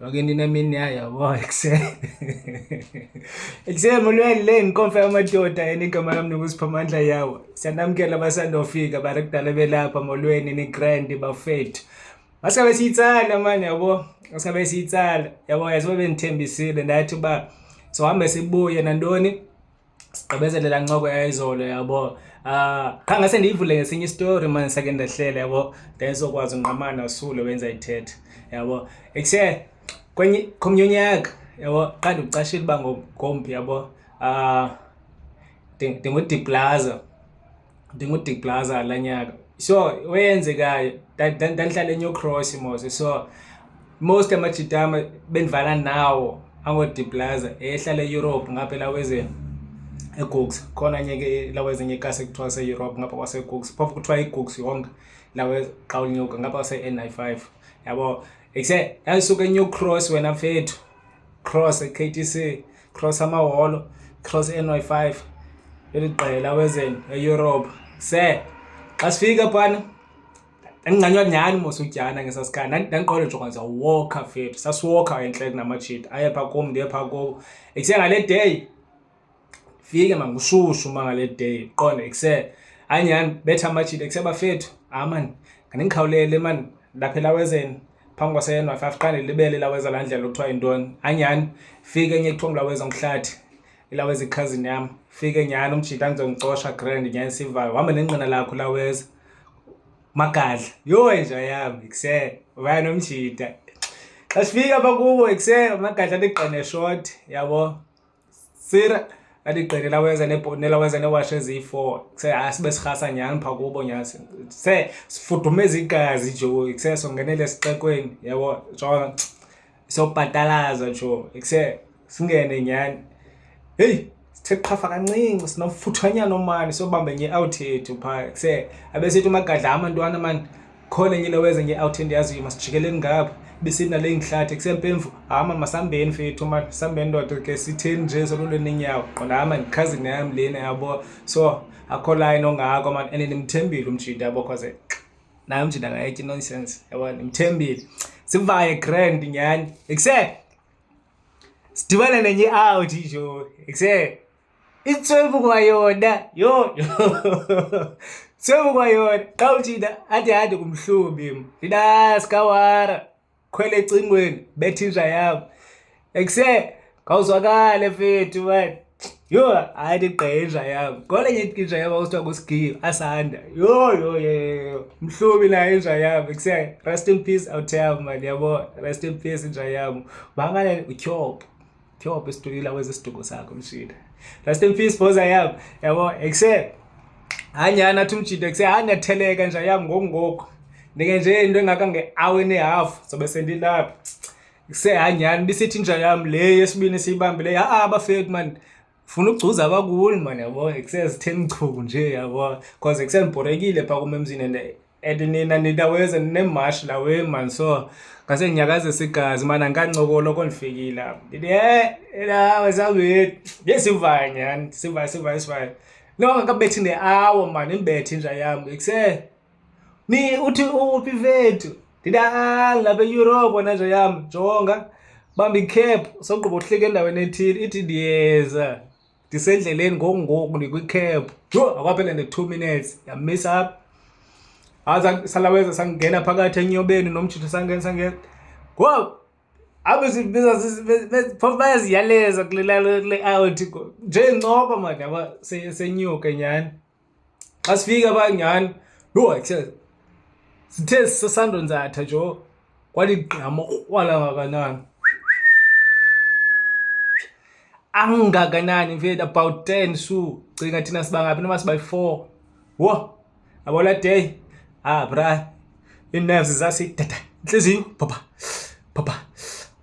Wage nina mini yayo bo ekuseni. Ekuseni molweni le inkonfa yamadoda enigama lami nokusipha amandla yawo. Siyanamkela abasandofika bari kudala belapha molweni ni grand bafethu. Basabe siyitsala manje yabo. Basabe siyitsala. Yabo yazibe benithembisile ndathi ba sohambe sibuye nantoni? sigqibezele laa ncoko yayizolo yabo um qha ngase ndiyivule ngesinye isitori mna ndisake ndehlela yabo ndayizokwazi unqamana usule wenza ithetha yabo ekuse kwenye komnye unyaka yabo qha ndikucashile uba ngomphi yabo um ndingudiplaza ndingu-dick plaza la nyaka so weyenzekayo ndandihlala enew cross mos so most amajitama bendivala nawo ango-dick plaza ehlala eeurope ngapha elawezeni egooks khona nye ke lawezenye ikasi ekuthiwa seeurope ngapha kwasegooks phofu kuthiwa igooks yonke lawe xa unyuka ngapha kwase-n i five yabo ekuse ndandisuka enew cross wena mfethu cross e-k t c cross amaholo cross ny 5 eli qela wezeni eyurope se xa sifika phana ndandingcanywa nyhani mos udyana ngesasikhathi ndandiqonda nje kwanza woka fethu sasiwoka entle kunamajita aye phaa kum ndiye phaa kubo ekuse ngale day fike mangushushu uma ngale day qonda ekuse hayi nyhani betha amajita ekuse bafethu hayi mani ngandikhawulele mani ndaphela wezeni phambi kwaseyenwa five xa ndilibele ilaweza laa ndlela kuthiwa yintoni anyhani fike enye kuthiwa ngulaweza ngumhlathi ilaweza ikhazini yam fike nyhani umjita andizongicosha grand nyhani sivayo uhamba nenqina lakho laweza magadla yho enja yam ikse vaya nomjita xa sifika pha kubo ikse magadla ndigqine short yabo sira aligqine lawenza nebhonela wenza newashi eziyi-four kuse hayi sibe sirhasa nyhani phaa kubo nyhani se sifudumeza igazi jo kuse songenele esixekweni yabo jona sobhatalaza jo kuse singene nyhani heyi sithe qhafa kancinci sinomfuthanyana omani sobambe nye out yethu phaa kuse abesithi umagadla amantwana mani khona enye into weza nge-out endiyaziyo masijikeleni ngapha besithi nale ngihlathi kusempemvu hama masambeni fethu ma sambeni ndoda ke sitheni nje sololweni inyawo qondama ndikhazini yam lena yabo so akho line ongako man and ndimthembile umjinda yabo cause naye umjinda ngayetya nonsense yabo ndimthembile sivaye grand nyhani ekuse sidibane nenye out ijo ekuse itsebuka yona yho tsebuka yona xa uthina athi handi kumhlubi thina sikawara khwele ecingweni bethinja yam ekuse khawuzwakale fethu mani yho hayi ndigqenja yam ngole nye inja yam akuthiwa kusigiyo asanda yho yho yho mhlubi nayo inja yam ekuse rest in peace awutheyam mani yabo rest in peace inja yam bangalele utyhopho Thiope isituyila kwezi siduko sakho mshida. Rest in peace boys I am. Yabo except hanyana athi umjida kuse hanya theleka nje yam ngokungoku. Ndike nje into engaka nge-hour and a half sobe sendilapha. Kuse hanyana bisithi nje yam le yesibini siyibambile. Ha ah, bafethu man funa ukugcuza abakuni man yabo kuse zitheni chuku nje yabo because kuse ngibhorekile pha kumemzini and and nina nidaweze ninemashi la weman so ngase nginyakazisa igazi mana ngikancokola oko ndifikile apho ndithi e nawe sawethu ye sivayo nyhani sivayo sivayo sivayo no ngakabethi ne-awa mani ndibethi inja yam ikuse ni uthi uphi vethu ndithi a ngilapha eyurope wena nja yam jonga bamba ikhephu sogqiba uhlika endaweni ethile ithi ndiyeza ndisendleleni ngoku ngoku ndikwicab yho akwaphele ne-two minutes yamisa apha hayi salaweza sangena phakathi enyobeni nomjitho sangena sangena ngoku apho phofu bayaziyaleza kule out nje ncoko mani yaba senyuke nyhani xa sifika phaa nyhani yho ke sithe sisandonzatha jo kwaligqama ukrwala ngakanani angakanani mfethu about ten su cinga thina siba ngaphi noma siba yi-four wo abola day ah bra ii-nerves zasidada intliziyo bhobha bhobha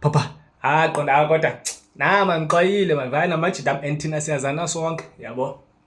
bhobha ah qonda kodwa nama ngiqwayile mavana majida am and thina siyazana sonke yabo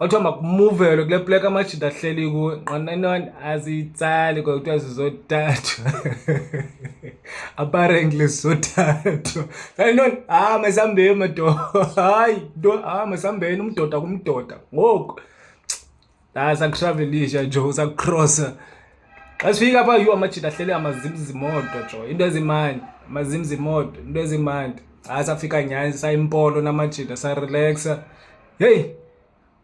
kwathiwa makumuvelo kule plek amajita ahleli kuwe nqananani aziyitsali kwa kuthiwa zizothathwa aparently zizothathwa kanintoni hayi ah, masihambeni madoda hayi nto hayi ah, masihambeni umdoda kumdoda ngoku hayi ah, sakutravelisha jo sakucrossa xa sifika pha yhu amajita ahleli amazimzimoto jo into ezimandi amazimzimoto into ezimandi hayi safika nyani sayimpolo namajita sarelaxa Heyi,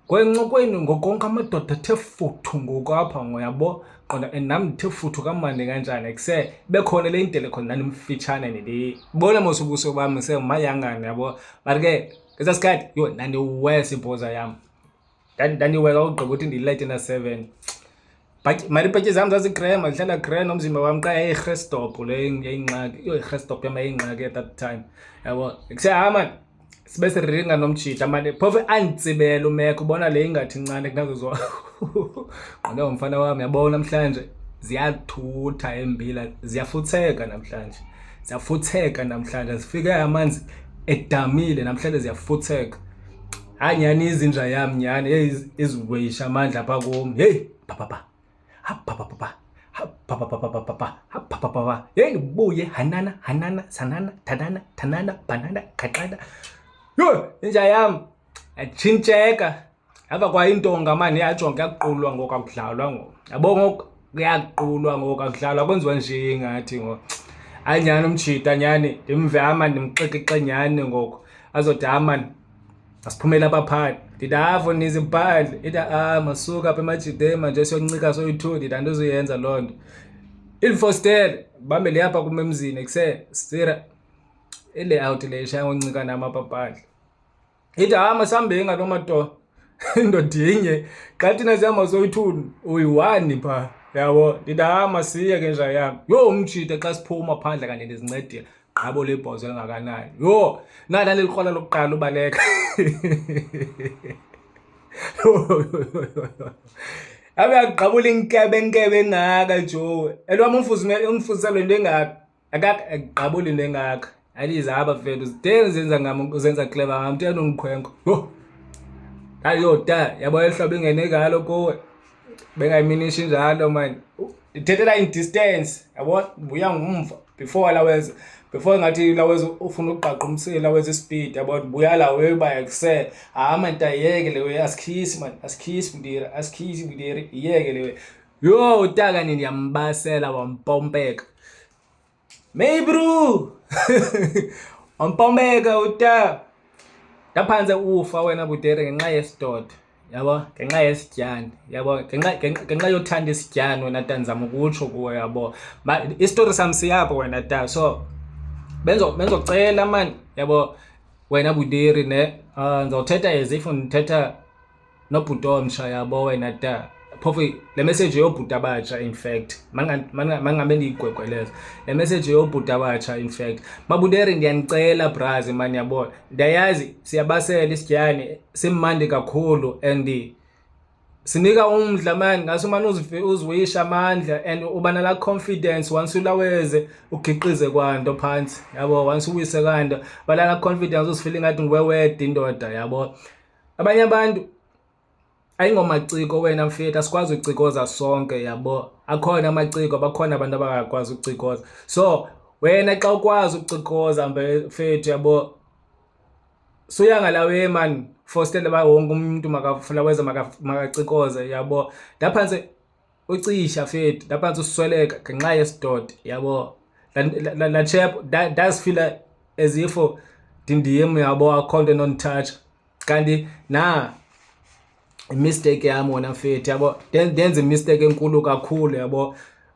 kwencokweni ngokonke amadoda athe futhu ngoku apha ngoyabo qonda and nam ndithe futhu kamandi kanjani kuse bekhona le indele khona ndandimfitshane ndibona mos ubuso bam semayangane yabo but ke ngesaa sikhathi yho ndandiwesa ibhoza yam ndandiweka ugqiba ukuthi ndiyilayite na-seven Malibhatyi zam zazigrem, ndihlala grem nomzimba wam qha yayirhestophu le yayingxaki. Yho, irhestophu yam yayingxaki at that time. Yabo, kusehamba sibe siringa nomjita mane phofu anditsibele umeko ubona le ingathi ncane kunazo zo qonde ngomfana wam yabona namhlanje ziyathutha embila ziyafutheka namhlanje ziyafutheka namhlanje zifike amanzi edamile namhlanje ziyafutheka hayi nyhani izinja yam nyhani heyi ezikweyisha amandla apha kum heyi papapa hapapapapa hapapapapapapa hapapapapa heyi ndibuye hanana hanana sanana thanana thanana bhanana qhaqhana yho inja yam atshintsheka apha kwayintonga mani yajonga yakuqulwa ngoku akudlalwa ngoku yabo ngoku kuyakuqulwa ngoku akudlalwa kwenziwa nje ngathi ngoku anyhani umtshita nyhani ndimve amani ndimxekixe nyhani ngoku azode amani asiphumele abaphathi ndithi avo ah, nizi bhadle ithi a ah, masuka apha emajideni manje siyoncika soyi-two ndithi andizoyenza loo nto ilifostele bambe liyapha kum emzini kuse sira ilayout le ishaya ngoncika nam apha bhadle ithi a ah, masihambeni ngaloo matoa indoda inye xa thina sihamba soyi-two uyi-one phaa yabo ndithi a masiye ke nja yam yho umjide xa siphuma phandle kanti ndizincedile gqabo lebhozo elingakanani yho nala lelikrwala lokuqala ubaleka abe agqabula inkebe nkebe engaka joe elwam umfundisa le nto engaka akagqabuli into engaka alize aba fethu zideni zenza ngam zenza cleva ngam tena ungikhwenkwe yho ayoda yabo elihlobo ingene ngalo kuwe bengayiminishi njalo mani ndithethela in distance yabo ndibuya ngumva before lawenza before ngathi lawenza ufuna ukuqaqa umsile lawenza ispeed yabo ndibuya la uyoyiba yakuse hayi mani tayiyeke le way asikhisi mani asikhisi mdiri asikhisi mdiri iyeke le way yho utaka nini yambasela wampompeka May bro. Ompomeka uta. Ndaphantse ufa wena butere ngenxa yesidoda. Yabo, ngenxa yesityani. Yabo, ngenxa ngenxa yothanda isityani wena ta ndizama ukutsho kuwe yabo. Isitori sam siyapho wena ta. So benzo benzocela man yabo wena butere ne. Uh, ndizawuthetha as if ndithetha nobhuti omsha yabo wena da phofu le message yobhuti abatsha in fact mangabe ndiyigwegweleza le message yobhuti abatsha in fact mabuderi ndiyanicela brazi mani yabona ndiyayazi siyabasela isidyane simandi kakhulu and sinika umdla mani ngaso umane uziwisha amandla and uba nala confidence once ulaweze ugiqize kwanto phantsi yabo once uwise kanto balala confidence uzifile ngathi nguwewede indoda yabo abanye abantu ayingomaciko wena mfethu asikwazi ucikoza sonke yabo akhona amaciko bakhona abantu abangakwazi ucikoza so wena xa ukwazi ucikoza mfethu yabo suya ngalawe mani fostele uba wonke umntu makafulaweza makacikoze yabo ndaphantsi ucisha fethu ndaphantsi usweleka ngenxa yesidodi yabo latshep ndazifila as if ndindim yabo akho nto enonditshatsha kanti na imisteyiki yam wona mfethi yabo ndenza imisteyiki enkulu kakhulu yabo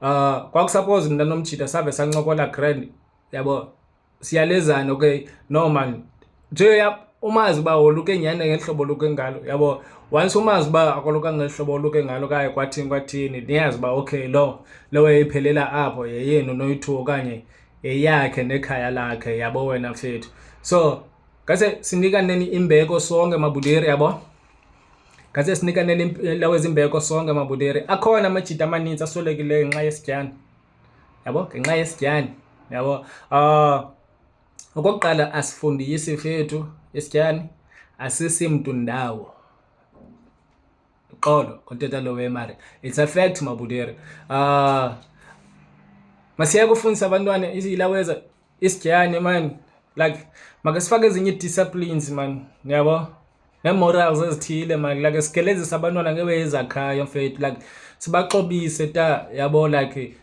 um uh, kwakusapoze mna nomjita save sancokola grand yabo siyalezana okay no man nje umazi uba woluke nyhani ngeli hlobo oluke ngalo yabo once umazi uba akoluka ngeli hlobo oluke ngalo kaye kwathini kwathini niyazi uba okay lo lowo yayiphelela apho yeyenu noyi-two okanye yeyakhe nekhaya lakhe yabo wena mfethu so ngase sinikaneni imbeko sonke mabuderi yabo ngase sinikaneni lawezimbeko sonke mabuderi akhona amajita amaninzi aswelekileyo ngenxa yesityana yabo ngenxa yesityani yabo uh, okokuqala asifundisi fethu isityani asisi mntu ndawo xolo koteta lo wemari it's a fact mabudere uh, ah, masiyeke ufundisa abantwana ilaweza isigiyane mani like makasifake ezinye ii-disciplines mani yabo nee-morals ezithile mani like sigelezise abantwana ngebe ezakhayo mfethu like sibaxobise ta yabo like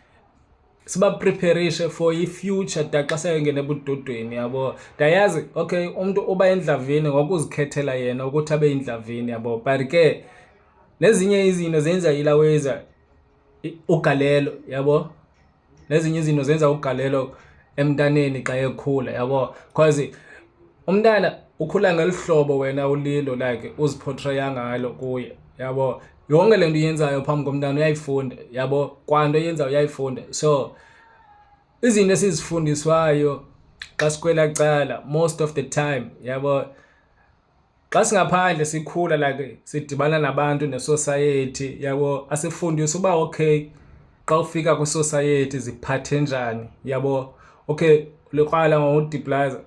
sibapreparishe for i-future da xa seyongena ebudodweni yabo ndayazi okay umntu uba endlavini ngokuzikhethela yena ukuthi abe yindlavini yabo but ke nezinye izinto zenza ilaweza ugalelo yabo nezinye izinto zenza ugalelo emntaneni xa ekhula yabo because umntana ukhula ngeli hlobo wena ulilo like uziphotraya ngalo kuye yabo yonke le nto uyenzayo phambi komntana uyayifunda yabo kwanto yenzayo uyayifunda so izinto esizifundiswayo xa sikwela cala most of the time yabo Xa singaphandle sikhula like sidibana nabantu nesosayethi yabo asifundise uba okay xa ufika kwisosayethi ziphathe njani yabo okay likrwala ngodiplaza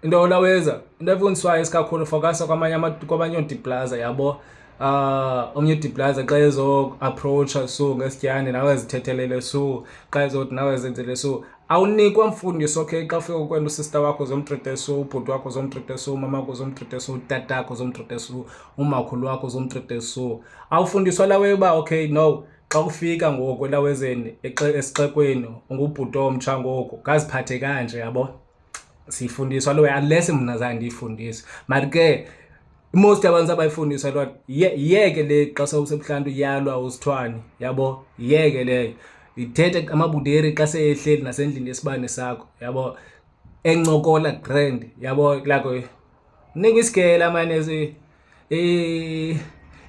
into olawenza into efundiswayo isikakhulu fokasa kwamanye kwamanye odiplaza yabo uh omnye udiplaza xa ezoapproacha so ngesityane nawe zithethelele so xa ezothi nawe zenzele so awunikwa mfundiso ke xa ufika ukwenda usista wakho zomtriteso ubhuti wakho zomtriteso umama wakho zomtriteso utata wakho zomtriteso umakhulu wakho zomtriteso awufundiswa lawe uba okay no xa ufika ngoku elawezeni esixekweni ungubhuti omtsha ngoku ngaziphathe kanje yabo siyifundiswa lowe unless mna zange ndiyifundise mari ke most abantu abayifundisa loo nto yeke le xa sewusebuhlantu yalwa usithwane yabo yeke leyo ithethe amabuderi xa seyehleli nasendlini yesibane sakho yabo encokola grand yabo lako nika isigela mane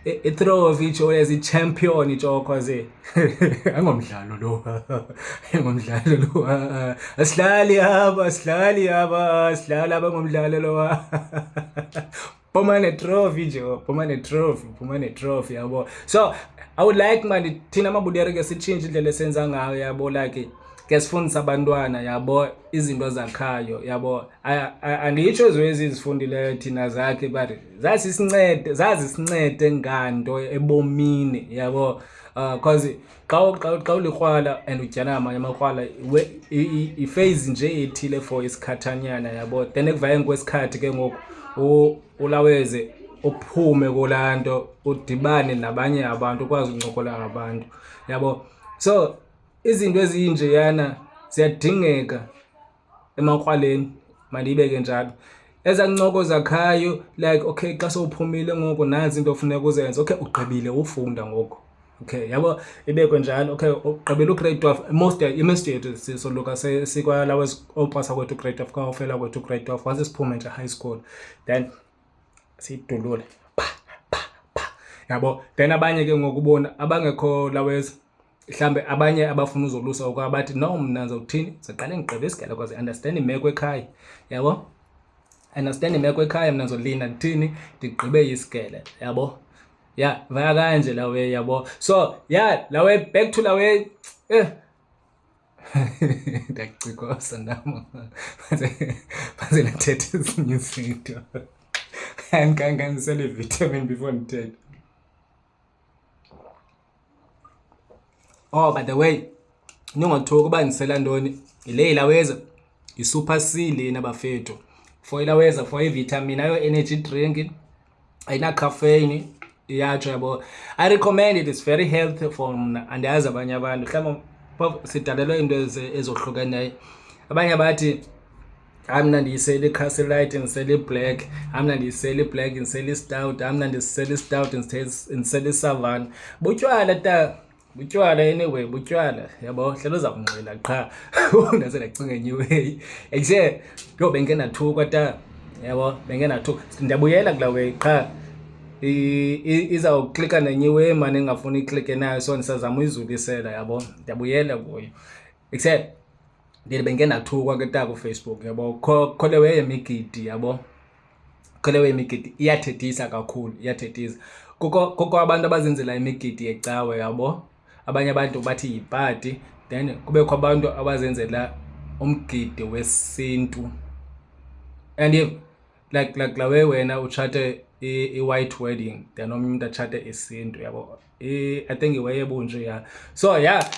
i-throw of itsho as i-champion itshokho ze engomdlalo lo engomdlalo lo asilali haba asilali haba asilali haba engomdlalo lo phuma netrophy nje phuma netrophy phuma netrophy yabo so i would like mani thina mabudere ke sitshintshe indlela esenza ngayo yabo like ke sifundisa abantwana yabo izinto zakhayo yabo andiyitsho ezwezi izifundileyo thina zakhe but zazisincede zazisincede nganto ebomini yabo uh, cause xa xa xa ulikrwala and udyana amanye amakrwala ifeyizi nje ethile for isikhathanyana yabo then ekuvayeni kwesikhathi ke ngoku ulaweze uphume kulaa nto udibane nabanye abantu ukwazi ukuncokola ngabantu yabo so izinto ezinjeyana ziyadingeka emakrwaleni mandiyibeke njalo eza ncoko zakhayo like okay xa sowuphumile ngoku nazi into ofuneka uzenze okay ugqibile ufunda ngoku okay yabo ibekwe njalo okay ugqibela ugrade twelve most imestate sisoluka sikwalawo opasa kwethu grade twelve kawufela kwethu grade twelve once siphume nje high school then siyidulule yabo then abanye ke ngokubona abangekho lawezi mhlawumbi abanye abafuna uzolusa okwa bathi no mna ndizawuthini ndizoqale ndigqibe isigele kwaze understand imeko ekhaya yabo understand imeko ekhaya mna ndizolinda ndithini ndigqibe isigele yabo ya vaya kanje lawe yabo so ya lawe back to lawe eh ndiyacikosa nam baze nathetha ezinye izinto andikanganisele ivitamin before ndithethe Oh, by the way, ningothoki uba ndisela ntoni yile ilaweza yi-super c lena bafethu for ilaweza for ivitamin ayo energy drink ayinacaffeine iyatsho yabo i recommend it is very healthy for mna andiyazi abanye abantu mhlawumbi sidalelwe iinto ezohlukeneyo abanye bathi amna ndiyisele ikhasi light ndisele iblack amna ndiyisele iblack ndisele istout amna ndisele istout ndisele isavana butywala ta butywala anyway butywala yabo hlelo uza kunxila qha ndase ndacinga enye way ekuse yho benke ndathukwa ta yabo benke ndathukwa ndiyabuyela kula way qha izawuklika nenye way mane ndingafuni iklike nayo so ndisazama uyizulisela yabo ndiyabuyela kuyo except ndiye bengenathukwa ke taku Facebook yabo kholewe yemigidi yabo kholewe yemigidi iyathethisa kakhulu iyathethisa kukho kukho abantu abazenzela imigidi yecawe yabo abanye abantu bathi yipati then kubekho abantu abazenzela umgidi wesintu and like like la way wena utshate i-white wedding then omnye umntu atshate isintu yabo i think iway ebunje ya so ya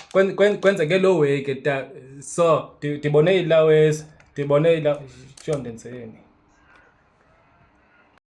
kwenzeke loo way ke ta so ndibone ilawezi ndibone ila sho ndenzeni